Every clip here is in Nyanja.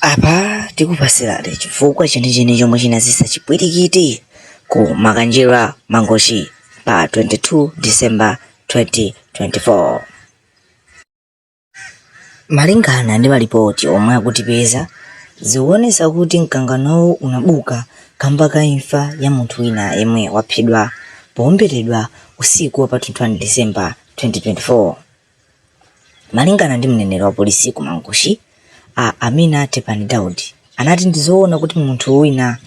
apa tikupasirani chifukwa chenicheni chomwe chinazesa chipwirikiti ku makanjira mangochi pa 22 december 2024 Malingana ndi malipoti omwe atipeza, zikuonesa kuti mkanganowu unabuka kamba ka imfa ya munthu wina yemwe waphedwa powomberedwa usiku wa pa 21 December 2024. Malingana ndi mneneri wa polisi ku Mangochi, a Amina Tepani Daud, anati ndi zoona kuti munthu wina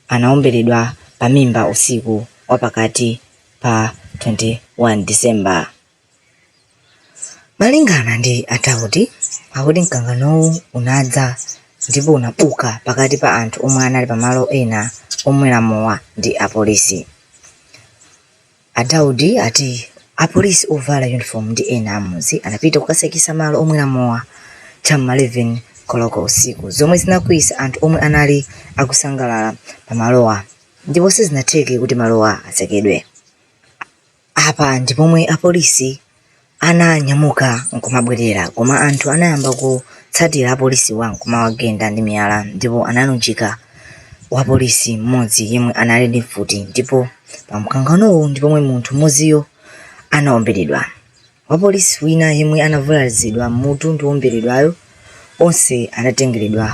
anawomberedwa pamimba usiku wa pakati pa 21 December. Malingana ndi a Daudi, akuti mkanganowu unadza ndipo unabuka pakati pa anthu omwe anali pa malo ena omwera mowa ndi apolisi. A Daudi ati apolisi ovala uniform ndi ena amudzi anapita kukasekesa malo omwera mowa cha m'ma 11 koloko usiku zomwe zinakwiyisa anthu omwe anali akusangalala pa malowa ndipo sizinatheke kuti malowa atsekedwe. Apa ndi pomwe apolisi ananyamuka nkumabwerera koma anthu anayamba kutsatira apolisiwa nkumawagenda ndi miyala ndipo analunjika wapolisi mmodzi yemwe anali ndi mfuti ndipo pa mkanganowu ndi pomwe munthu mmodziyo anaomberedwa. Wapolisi wina yemwe anavulazidwa m'mutu ndi woomberedwayo onse anatengeredwa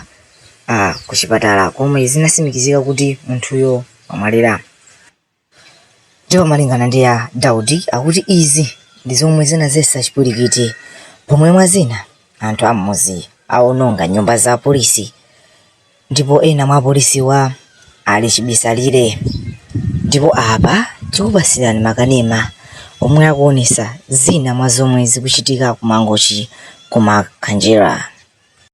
ah, ku chipatala komwe zinasimikizika kuti munthuyo wamwalira. Ndipo malingana ndi a Daudi akuti izi ndi zomwe zinazetsa chipwirikiti pomwe mwa zina anthu a m'mudzi awononga nyumba za apolisi ndipo ena mwa apolisiwa ali chibisalire. Ndipo apa tikupatsirani makanema omwe akuonetsa zina mwa zomwe zikuchitika ku Mangochi ku Makanjira.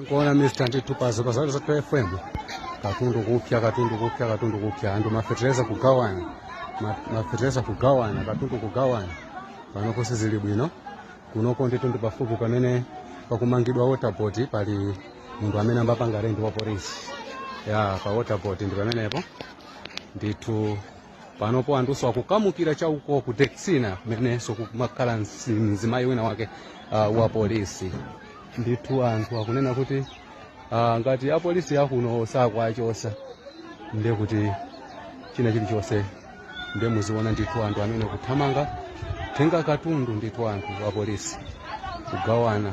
Nkuona Mr. ndithu pa zopa za zathu FM katundu kupya katundu kupya katundu kupya anthu mafetereza kugawana mafetereza kugawana katundu kugawana panopo sizili bwino kunoko ndithu ndi pafupi pamene pakumangidwa Water Board pali munthu amene ambapanga rendi wa polisi ya pa Water Board ndi pamenepo ndithu panopo anthuso akukamukira cha uko ku Texina kumenenso kumakhala msi- mzimayi wina wake uh, wa polisi ndithu anthu akunena kuti uh, ngati apolisi akuno sakuwachosa ndiye kuti china chilichonse ndiye muziona ndithu anthu amene kuthamanga tenga katundu ndithu anthu apolisi kugawana